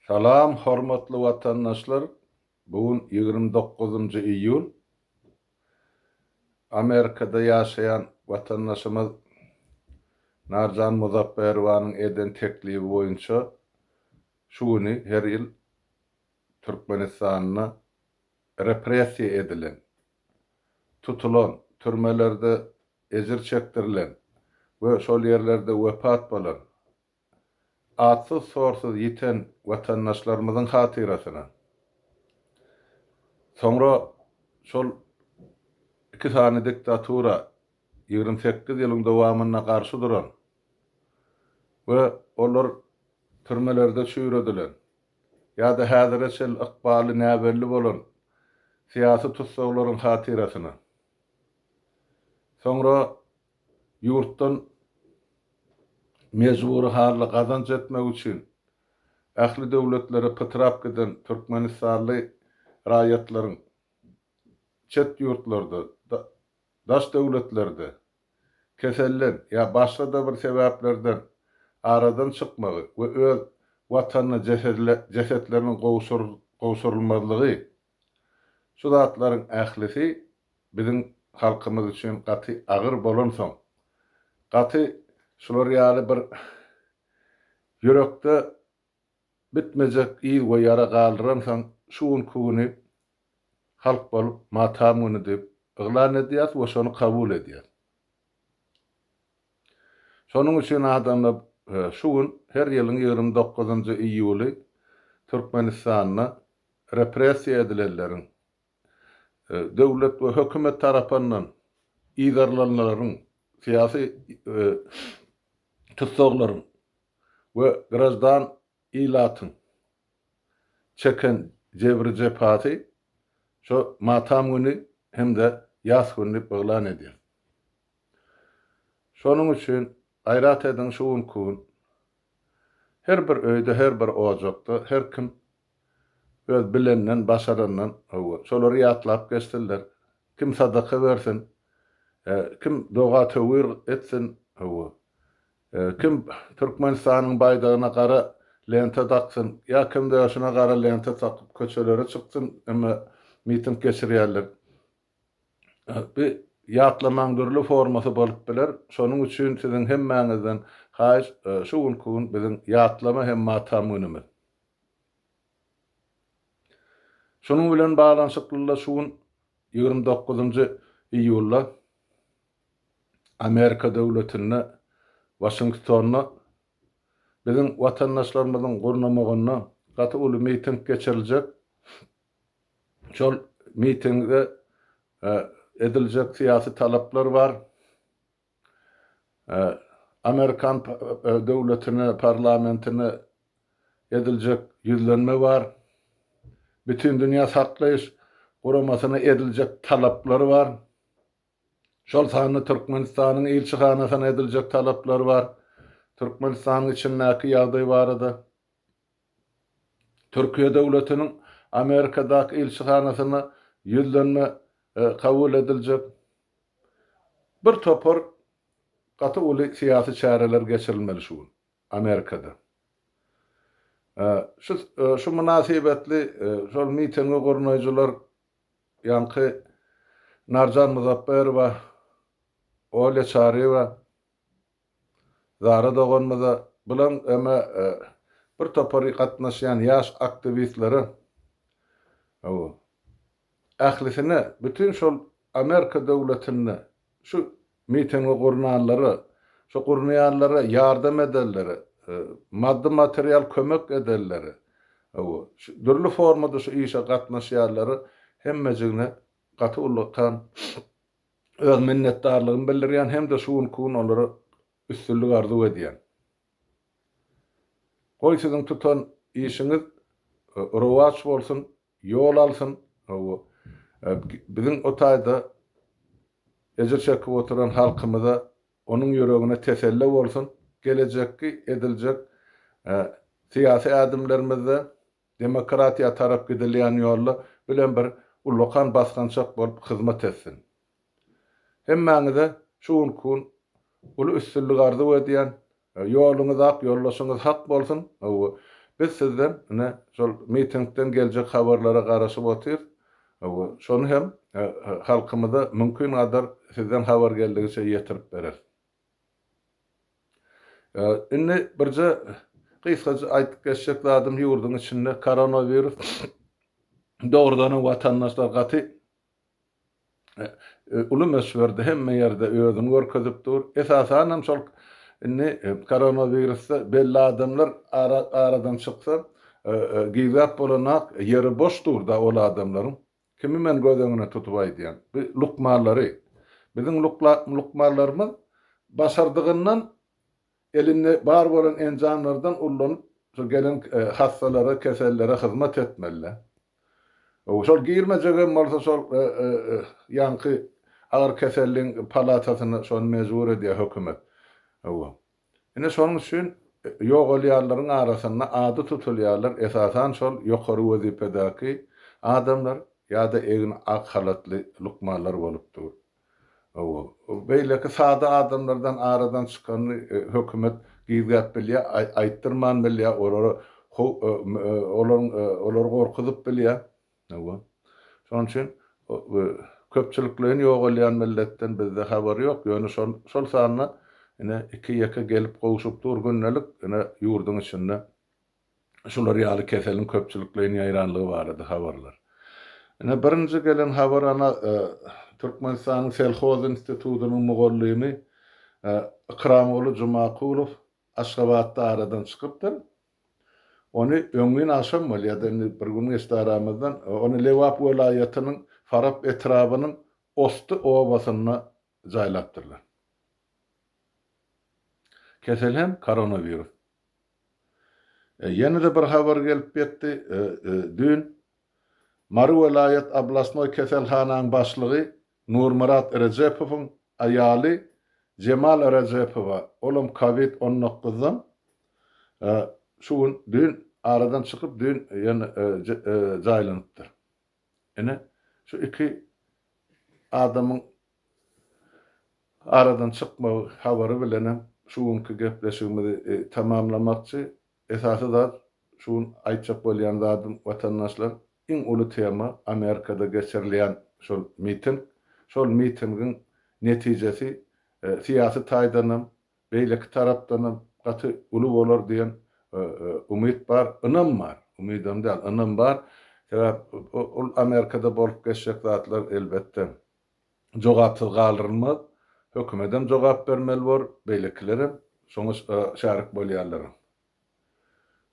Salam hormatly watandaşlar bu gün ýigrimi dokuzynjy iýul Amerikada ýaşaýan watandaşymyz Narjan Muzapperowanyň eden teklibi boýunça şu güni her ýyl Türkmenistanda repressiýa edilen, tutulan, türmelerde ejir çekdirilen we şol ýerlerde wepat bolan Atsyz-sorsuz ýiten watandaşlarymyzyň hatyrasyna, soňra şol iki sany diktatura ýigrimi sekiz ýylyň dowamynda garşy duran we olar türmelerde çüýredilen ýa-da häzire çenli ykbaly näbelli bolan syýasy tussaglaryň hatyrasyna, soňra ýurtdan mejbury hally gazanç etmek üçin ähli döwletlere pytrap giden türkmenistanly raýatlaryň çet ýurtlarda, daş döwletlerde keselden ýa başga-da bir sebäplerden aradan çykmagy we öz Watanyna jesetleriniň gowşurylmazlygy Şu zatlaryň ählisi biziň halkymyz üçin gaty agyr bolansoň, gaty şular ýaly bir ýürekde bitmejek yz we ýara galdyransoň, şu günki güni halk bolup Matam güni diýip yglan edýäris we şony kabul edýäris. Şonuň üçin adamlar şu gün, her ýylyň ýigrimi dokuzynjy iýuly Türkmenistanda repressiýa edilenleriň, döwlet we hökümet tarapyndan yzarlanlaryň, syýasy tussaglaryň we graždan Ilatyň çeken jebri-jepasy şu matam güni hem-de ýas güni diýip yglan edýäs. Şonuň üçin gaýrat ediň şu günki gün her bir öýde, her bir ojakda her kim öz bilenden, başarandan hawa, şolary ýatlap geçsinler. Kim sadaka bersin, kim doga-töwir etsin, hawa, Kim Türkmenistanyň baýdagyna gara lenta daksyn, ýa kim döşüne gara lenta takyp köçelere çyksyn, emma miting geçirýärler. Bu ýatlamaň dürli formasy bolup biler. Şonuň üçin siziň hemmäňizden haýyş, şu günki gün biziň ýatlama hem matam günümiz. Şunuň bilen baglanyşyklyda şu gün ýigrimi dokuzynjy iýulda. Amerika döwletinde, Waşingtonda biziň watandaşlarymyzyň gurnamagynda gaty uly miting geçiriljek. Şol mitingde ediljek syýasy talaplar bar. Amerikan döwletine, parlamentine ediljek ýüzlenme bar. Bütindünýä saklaýyş guramasyna ediljek talaplar bar. Şol sanda Türkmenistanyň ilçihanasyna ediljek talaplar bar. Türkmenistanyň içindäki ýagdaý barada Türkiýe döwletiniň Amerikadaky ilçihanasyna ýüzlenme kabul ediljek. Bir topar gaty uly syýasy çäreler geçirilmeli şu gün Amerikada. Şu mynasybetli şol mitingi gurnaýjylar Ýaňky Narjan Muzapberowa, Olýa Çaryýewa, Zara doganymyza, bularyň öme bir topary gatnaşýan ýaş aktiwistlere, hawa, ählisine, bütin şol Amerika döwletinde Şu mitingi gurnanlara, şu gurnaýanlara ýardam edenlere, maddy material kömek edenlere, hawa, şu dürli formada şu işe gatnaşýanlara hemmejigine gaty ullakan öz minnetdarlygymy bildirýän hem-de şu günki gün olara üstünlik arzuw edýän. Goý siziň tutan işiňiz rowaç bolsun, Ýol alsyn, hawa, biziň o taýda ejir çekip oturan halkymyza, onuň ýüregine teselle bolsun, gelejekki ediljek syýasy ädimlerimizde demokratiýa tarap gidilýän ýolda bilen bir ullakan basgançak bolup hyzmat etsin. Hemmäňize şu günki gün uly üstünlik arzuw edýän, Ýoluňyz ak, ýoldaşyňyz hak bolsun! Hawa, biz sizden ine, şol mitingden geljek habarlara garaşyp otyrys. Hawa, şony hem halkymyza mümkin gadar sizden habar geldigiçe ýetirip bereris. Indi birje gysgaça aýdyp geçjek zadym ýurduň içinde koronawirus dogrudanam watandaşlar gaty uly möçberde hemme ýerde özüni görkezip dur. Esasanam şol indi koronowirusda belli adamlar aradan çyksa, gizläp bolanak ýeri boş dur-da ol adamlaryň. Kimi men göz öňüne tutup aýdýan? Bu lukmanlary. Biziň lukmanlarymyz başardygyndan Elinde bar bolan enjamlardan ullanyp, şo gelen hassalara, kesellere hyzmat etmeli-dä. Şol girmejegem bolsa şol ýaňky agyr keselliň palatasyna şony mejbur edýär hökümet. Ine şonuň üçin ýogalýanlaryň arasynda ady tutulýarlar esasan şol ýokary wezipedäki adamlar ýa-da egin ak halatly lukmanlar bolup dur. Hawa, beýleki sada adamlardan aradan çykanyny hökümet gizläp bilýär, aýtdyrman bilýär, olary olaryň olary gorkuzyp bilýär. Hawa. Şonuň üçin köpçülikleýin ýogalýan milletden bizde habar ýok, ýöne şol şol sanda ine iki-ýeke gelip gowşup dur gündelik ine ýurduň içinde. şular ýaly keseliň köpçülikleýin ýaýranlygy barada habarlar. Ine, birinji gelen habar ana Türkmenistanyň Selhoz institutynyň mugallymy Ykramguly Jumakulow Aşgabatda aradan çykypdyr. Ony öňňin agşam bolýar-da, indi bir gün geçdi aramyzdan, ony Lebap welaýatynyň Farap etrabynyň Osty obasynda jaýlapdyrlar. Kesel hem koronawirus. Ýene-de bir habar gelip ýetdi, düýn Mary welaýat oblastnoý keselhanaň başlygy Nurmyrat Rejepowyň aýaly Jemal Rejepowa, olam covid on dokuz dan şu gün, düýn aradan çykyp, düýn ýene jaýlanypdyr. Ine, şu iki adamyň aradan çykmagy habary bilenem şu günki gepleşigimizi tamamlamakçy. Esasy zat, şu gün aýtjak bolýan zadym, watandaşlar, iň uly tema Amerikada geçirilýän şol miting. Şol mitingiň netijesi syýasy taýdanam, Beýleki tarapdanam gaty uly bolar diýen umyt bar, ynam bar, umydam däl, ynam bar. Sebäp ol Amerikada bolup geçjek zatlar elbetde jogapsyz galdyrylmaz. Hökümetem jogap bermeli bor, beýlekilerem şoňa şärik bolýarlar.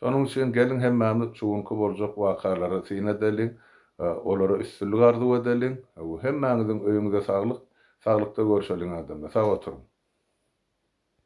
Şonuň üçin geliň hemmämiz şu günki boljak wakalara syn edeliň, olara üstünlik arzuw edeliň. Hemmäňiziň öýüňize saglyk, saglykda görşeliň adamlar. Sag oturyň.